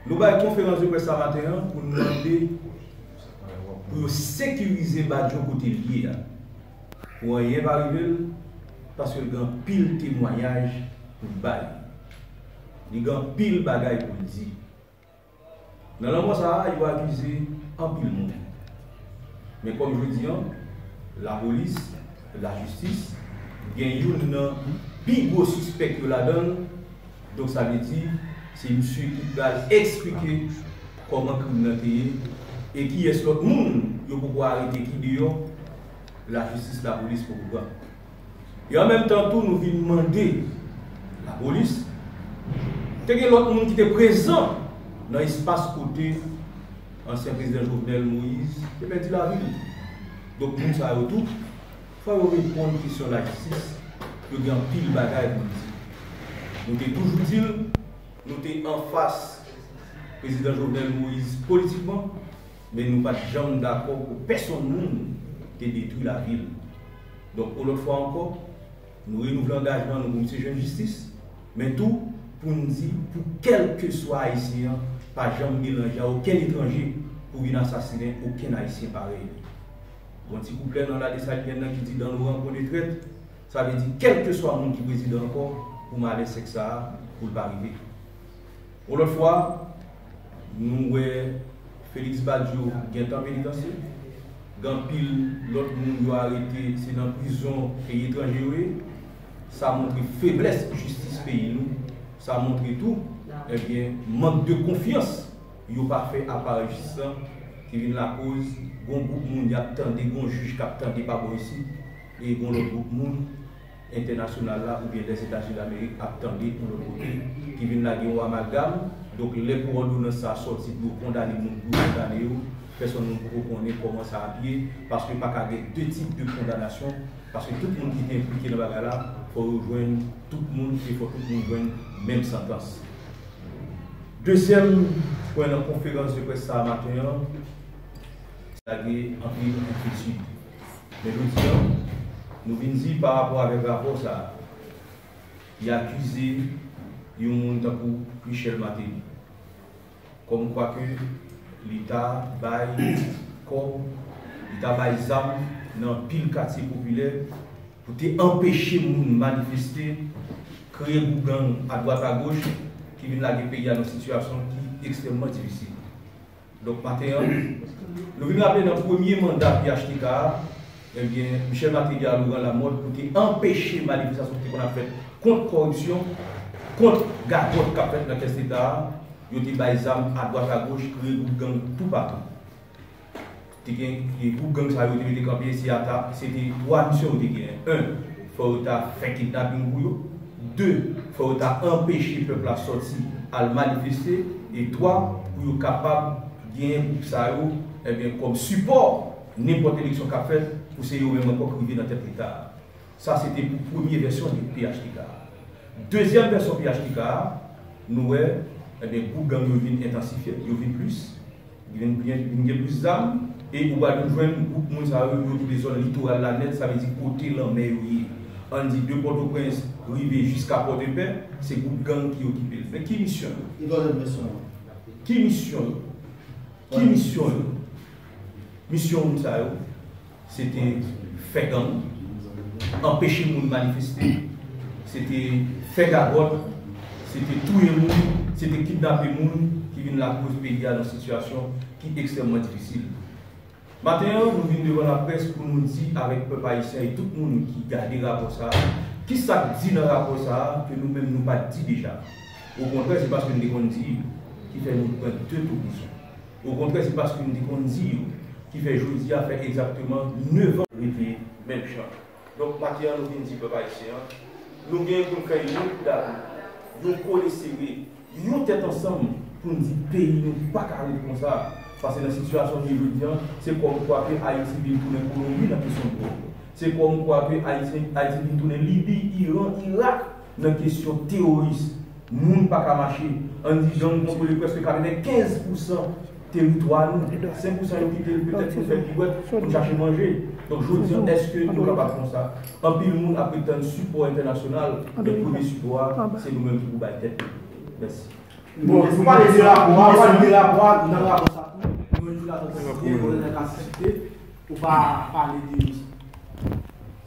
Nou bay konferans de près sa maten an pou nou mande pou yo sekirize Badio kote l ye a pou anyen pa rive l paske l gen anpil temwanyaj pou l bay. Li gen anpil bagay pou l di. Nan lanmò sa a yo akize anpil moun. Men kòm jodi an lapolis, lajistis gen youn nan pi gwo sispèk yo ladan l, Donk sa vle di se misye ki pral eksplike kòman krim nan te ye e kiyès lòt moun yo poko arete ki deyò lajistis lapolis poko pran. E an menm tan tou nou vin mande lapolis te gen lòt moun ki te prezan nan espas kote ansyen prezidan Jovenel Moïse te pèdi lavi l. Donk moun sa yo tou. Fò yo reponn kesyon lajistis, yo gen anpil bagay pou di. Nou te toujou di l, nou te anfas Prezidan Jovenel Moïse politikman, men nou pa t janm dakò pou pèsonn moun te detwi lavi l. Donk yon lòt fwa ankò, nou renouvle angajman nou pou misye jwenn jistis, men tou pou n di pou kèlkeswa Ayisyen an pa janm melanje a okenn etranje pou vin asasinen okenn Ayisyen parèy li. Gon ti kouplè nan La Dessalinienne nan ki di Dan Laurent konn e trèt, sa vle di kèlkeswa moun ki prezidan ankò pou malè sèks sa a pou l pa rive. Yon lòt fwa, nou wè Félix Badio gentan penitansye, gen anpil lòt moun yo arete se nan prizon peyi etranje yo ye, sa montre feblès jistis peyi nou, sa montre tou, ebyen, mank de konfyans. Yo pa fè aparèy jis lan ki vin lakoz gon gwoup moun yap tande gon jij kap tande pa bò isit e gon lòt gwoup moun entènasyonal la oubyen Lèzetazini Damerik ap tande yon lòt kote ki vin lage yon amalgam donk lè pou òdonans sa sòti pou yo kondane moun pou yo kondane yo pèsòn moun poko konnen kòman sa ap ye paske pa ka gen 2 tip de kondanasyon paske tout moun ki te enplike nan bagay la fò yo jwenn tout moun e fò tout moun jwenn menm santans. Dezyèm pwen nan konferans de près sa a maten an lage anpil enkyetid. Men jodi an, nou vin di pa rapò avèk rapò sa a ki akize yon moun tankou Michel Martelly kòm kwa ke li ta bay kòb, li ta bay zam nan anpil katye popilè, Pou te anpeche moun manifeste, kreye gwoup gang adwat agoch ki vin lage peyi a nan sitiyasyon ki ekstrèmman difisil. Donk maten an, nou vin raple nan premye manda phtk a, ebyen Michel Martelly a Laurent Lamothe pou te anpeche manifestasyon ki te konn ap fèt kont kòripsyon, kont gagòt k ap fèt nan kès Leta a, yo te bay zam adwat agoch, kreye gwoup gang toupatou. Te gen gwoup gang sa yo te mete kanpe si a ta se te 3 misyon yo te genyen 1 fò yo ta fè kidnaping pou yo 2 fò yo ta anpeche pèp la sòti al manifeste e 3 pou yo kapab genyen gwoup sa yo ebyen kòm sipò nenpòt eleksyon k ap fèt pou se yo menm ankò k rive nan tèt leta a sa se te pou premye vèsyon de phtk a dezyèm vèsyon phtk a nou wè ebyen gwoup gang yo vin entansifye yo vin plis. Gen plis zam e ou pral toujou jwenn gwoup moun sa yo yo kite zòn litoral la nèt sa vle di kote lanmè yo ye ann di de pòtoprens rive jiska pòdepè se gwoup gang ki okipe l men ki misyon yo? Li poze m kesyon an. Ki misyon yo? Ki misyon yo? Misyon moun sa yo? se te fè gang, anpeche moun manifeste, se te fè gagòt, se te touye moun, se te kidnape moun ki vin lakoz peyi a nan sitiyasyon ki ekstrèmman difisil. Maten an, nou vin devan laprès pou nou di avèk pèp ayisyen e tout moun ki gade rapò sa a, ki sa k di nan rapò sa a ke nou menm nou pa t di deja. Okontrè, se paske n te konn di ki fè nou pran de tour bouson. Okontrè se paske m te konn di yo ki fè jodi a fè egzakteman 9 an. Rete menm jan. Donk maten an nou vin di pèp ayisyen an, nou gen pou n fè yon kout dado, yon kole sere, yon tèt ansanm pou n di peyi nou pa ka ret konsa pase nan sitiyasyon l ye jodi an se kòm kwa ke Ayiti vin tounen Kolonbi nan kesyon dwòg. Se kòm kwa ke Ayiti vin tounen Libi, Iran, Irak. Nan kesyon teworis, moun pa ka mache. Ann di jan nou kontwole prèske 95 pousan teritwa nou. 5 pousan yo kite l petèt pou fè piwèt, pou n chache manje. Donk jodi an, èske yo kapab konsa? Anpil moun ape tann sipò entènasyonal, men premye sipò a, se nou menm ki pou bay tèt nou. Mèsi. Bon, nou pale de rapò a, pale de rapò a, nan rapò sa tou, nou jwenn jou ladann site, gouvènè ka site. Ou pa pale de yo sa.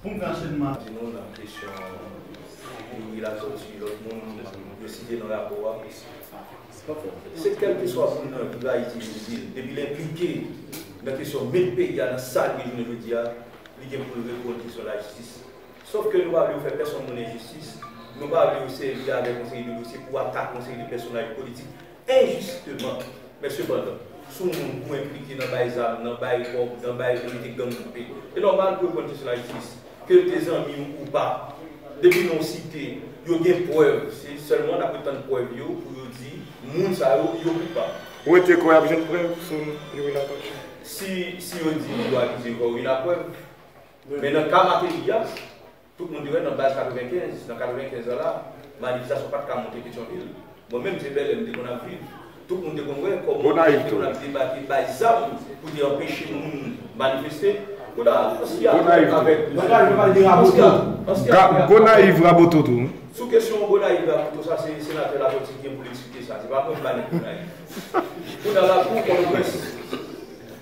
Bon gen ansèyman. Di nou nan kesyon Youri Latortue lòt moun yo site nan rapò a. Se kèlkeswa moun nan ki va itilize l, depi l enplike nan kesyon met peyi a nan sa l ye jounen jodi a, li gen pou l reponn kesyon lajistis. Sof ke nou pa vle yo fè pèsonn moun enjistis, nou pa vle yo sèvi avèk yon seri de dosye pou atak yon seri de pèsonaj politik. Enjistement. Men sepandan, si yon moun tou enplike nan bay zam, nan bay kòb, nan bay mete gang koupe, e nòmal pou yo pran jis lajistis. Ke yo te zanmi w ou pa. Depi non w site, yo gen prèv. Se sèlman n ape tann prèv yo pou yo di moun sa yo, yo koupab. Ou rete kwè y ap jwenn prèv sou Youri Latortue? Si, si yo di yo akize Youri Laprèv. Men nan ka Mateli a, Tout moun te wè nan baz 95, nan 95 an la, manifestasyon pat ka monte Petyonvil. Mwen menm se Bèlè m te konn ap viv. Tout moun te konn wè kòman polisye te konn ap debake bay zam pou te anpeche moun manifeste. Kounya ansi a fè avèk Gonayiv yo pale de Raboto. Gonayiv Raboto tou. Sou kesyon Gonayiv Raboto sa se senatè Latortue ki gen pou l eksplike sa. Se pa mwen k ba nèg Gonayiv. Kounya la kou Pòtoprens.